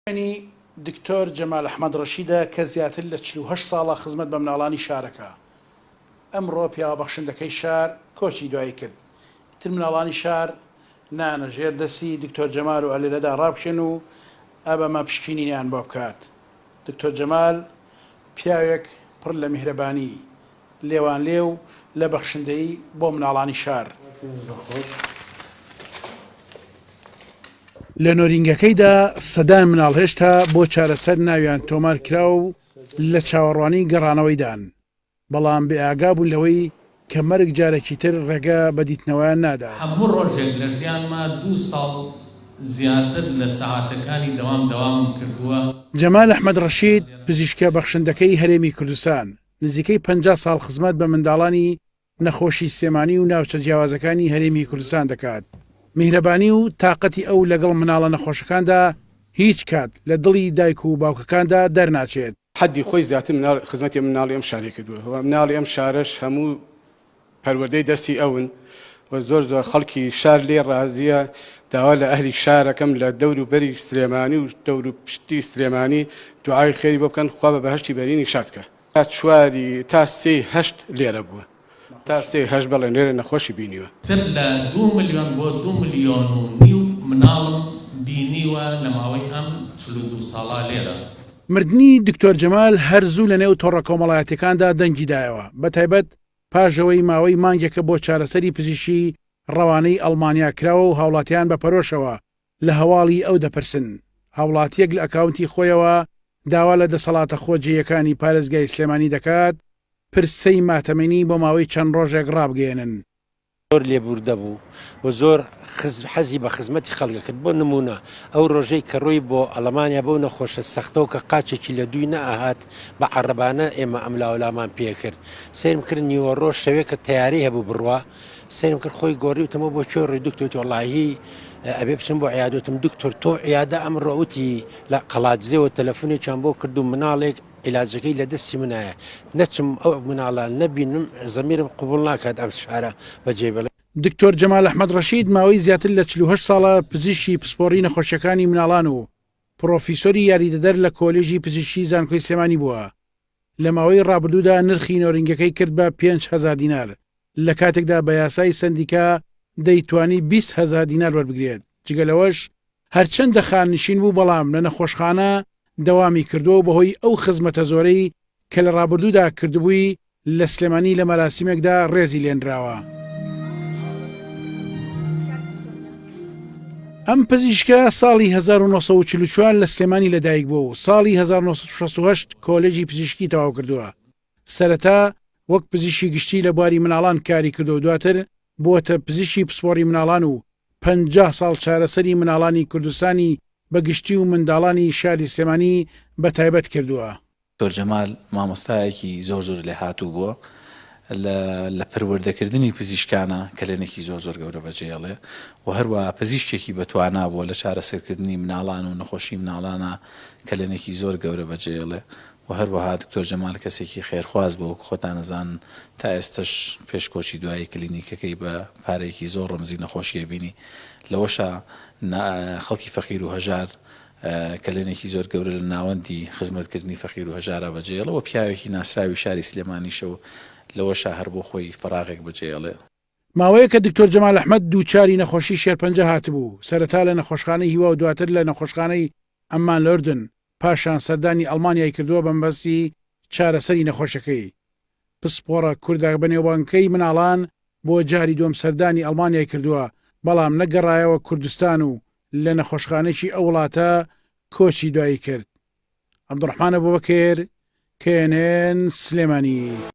شوێنی دکتۆر جەمال ئەحمەد ڕەشیدە کە زیاتر لە چل و هەشت ساڵە خزمەت بە مناڵانی شارەکە ئەمڕۆ پیاوە بەخشندەکەی شار کۆچی دوایی کرد ئیتر مناڵانی شار نانە ژێر دەستی دکتۆر جەمال و ئەلێرەدا ڕابکێن و ئەبەمە پشکینینیان بۆ بکات دکتۆر جەمال پیاوێک پڕ لە میهرەبانی لێوانلێو لە بەخشندەیی بۆ مناڵانی شار. لە نۆرینگەکەیدا سەدان مناڵ هێشتا بۆ چارەسەر ناویان تۆمار کراوە و لە چاوەڕوانی گەڕانەوەیدان، بەڵام بێئاگا بوون لەوەی کە مەرگ جارێکی تر ڕێگە بە دیتنەوەیان نادات. هەموو ڕۆژێک لە ژیانما دوو ساڵ زیاتر لە سەعاتەکانی دەوام دەوامم کردووە. جەمال ئەحمەد ڕەشید، پزیشکە بەخشندەکەی هەرێمی کوردستان، نزیکەی پەنجا ساڵ خزمەت بە منداڵانی نەخۆشی سلێمانی و ناوچە جیاوازەکانی هەرێمی کوردستان دەکات، میهرەبانی و تاقەتی ئەو لەگەڵ مناڵە نەخۆشەکاندا هیچ کات لە دڵی دایک و باوکەکاندا دەرناچێت. حەدی خۆی زیاتر خزمەتی ئەم مناڵی ئەم شارەی کردووە و مناڵی ئەم شارەش هەموو پەروەردەی دەستی ئەون و زۆر زۆر خەڵکی شار لێ ڕازیە داوا لە ئەهلی شارەکەم لە دەور و بەری سلێمانی و دەور و پشتی سلێمانی دوعای خێری بۆ بکەن خوا بە بەهشتی بەرینی شادکە تا چواری تا سێی هەشت لێرە بووە تا سێی هەشت بەڵێ لێرە نەخۆشی بینیوە. تر لە دوو ملیۆن بۆ دوو ملیۆن و نیو مناڵم بینیوە لە ماوەی ئەم چل و دوو ساڵە لێرە. مردنی دکتۆر جەمال هەر زوو لەنێو تۆڕە کۆمەڵایەتیەکاندا دەنگی دایەوە، بەتایبەت پاشئەوەی ماوەی مانگێکە بۆ چارەسەری پزیشکی ڕەوانەی ئەڵمانیا کراوە و هاوڵاتیان بە پەرۆشەوە لە هەواڵی ئەو دەپرسن، هاوڵاتیەک لە ئەکاونتی خۆیەوە داوا لە دەسەڵاتە خۆجێیەکانی پارێزگای سلێمانی دەکات پرسەی ماتەمینی بۆ ماوەی چەند ڕۆژێک ڕابگەیەنن. زۆر لێبووردە بوو و زۆر حەزی بە خزمەتی خەڵک دەکرد، بۆ نموونە ئەو ڕۆژەی کە ڕۆی بۆ ئەڵەمانیا بەو نەخۆشە سەختەوە کە قاچێکی لە دووی نەئەهات بە عەڕەبانە ئێمە ئەملاولامان پێکرد سەیرم کرد نیوەڕۆ شەوێکە تەیارەی هەبوو بڕوا سەیرم کرد خۆی گۆڕی وتم ئەوە بۆ کوێ ڕۆی دوکتۆر وتی وەڵاهی ئەبێ بچم بۆ عیادە وتم دوکتۆر تۆ عیادە ئەمڕۆ وتی لە قەڵادزێوە تەلەفونێکیان بۆ کردووم مناڵێک ئیلاجەکەی لە دەستی منایە نەچم ئەو مناڵە نەبینم زەمیرم قبوڵ ناکات ئەم فشارە بەجێ بێڵم. دکتۆر جەمال ئەحمەد ڕەشید ماوەی زیاتر لە چل و هەشت ساڵە پزیشکی پسپۆڕی نەخۆشیەکانی مناڵان و پڕۆفیسۆری یاریدەدەر لە کۆلێژی پزیشکی زانکۆی سلێمانی بووە لە ماوەی ڕابردوودا نرخی نۆرینگەکەی کرد بە پێنج هەزار دینار لە کاتێکدا بە یاسای سەندیکا دەیتوانی بیست هەزار دینار وەربگرێت، جگە لەوەش هەرچەندە خاننشین بوو بەڵام لە نەخۆشخانە دەوامی کردووە و بەهۆی ئەو خزمەتە زۆرەی کە لە ڕابردوودا کردبووی لە سلێمانی لە مەراسیمێکدا ڕێزی لێنراوە. ئەم پزیشکە ساڵی هەزار و نۆ سەد و چل و چوار لە سلێمانی لەدایکبووە و ساڵی هەزار و نۆ سەد و شەست و هەشت کۆلێجی پزیشکی تەواوکردووە، سەرەتا وەک پزیشکی گشتی لە بواری مناڵان کاری کردووە دواتر بووەتە پزیشکی پسپۆڕی مناڵان و پەنجا ساڵ چارەسەری مناڵانی کوردستانی بە گشتی و منداڵانی شاری سلێمانی بە تایبەت کردووە. دکتۆر جەمال مامۆستایەکی زۆر زۆر لێهاتوو بووە لە لە پەروەردەکردنی پزیشکانە کەلێنێکی زۆر زۆر گەورە بەجێهێڵێ و هەروەها پزیشکێکی بەتوانا بووە لە چارەسەرکردنی مناڵان و نەخۆشی مناڵانە کەلێنێکی زۆر گەورە بەجێهێڵێ و هەروەها دکتۆر جەمال کەسێکی خێرخواز بوو وەکو خۆتان ئەزانن تا ئێستەش پێش کۆچی دوایی کلینیکەکەی بە پارەیەکی زۆر ڕەمزی نەخۆشیە بینی لەوەشا نا خەڵکی فەقیر و هەژار کەلێنێکی زۆر گەورە لە ناوەندی خزمەت کردنی فەقیر و هەژارا بەجێڵە وە پیاوێکی ناسراوی شاری سلێمانیشە و لەوەشا هەر بۆ خۆی فەراغێک بەجێڵێ. ماوەیەکە دکتۆر جەمال ئەحمەد دووچاری نەخۆشی شێرپەنجە هاتبوو سەرەتا لە نەخۆشخانەی هیوا و دواتر لە نەخۆشخانەی عەممان لەردن پاشان سەردانی ئەڵمانیای کردووە بەمەبەستی چارەسەری نەخۆشەکەی. پسپۆڕە کوردە بەنێوبانگکەی مناڵان بۆ جاری دووەم سەردانی ئەڵمانیای کردووە، بەڵام نەگەڕایەوە کوردستان و لە نەخۆشخانەیەکی ئەو وڵاتە کۆچی دوایی کرد. عەبدوڕەحمان ئەبوبەکر، knn، سلێمانی.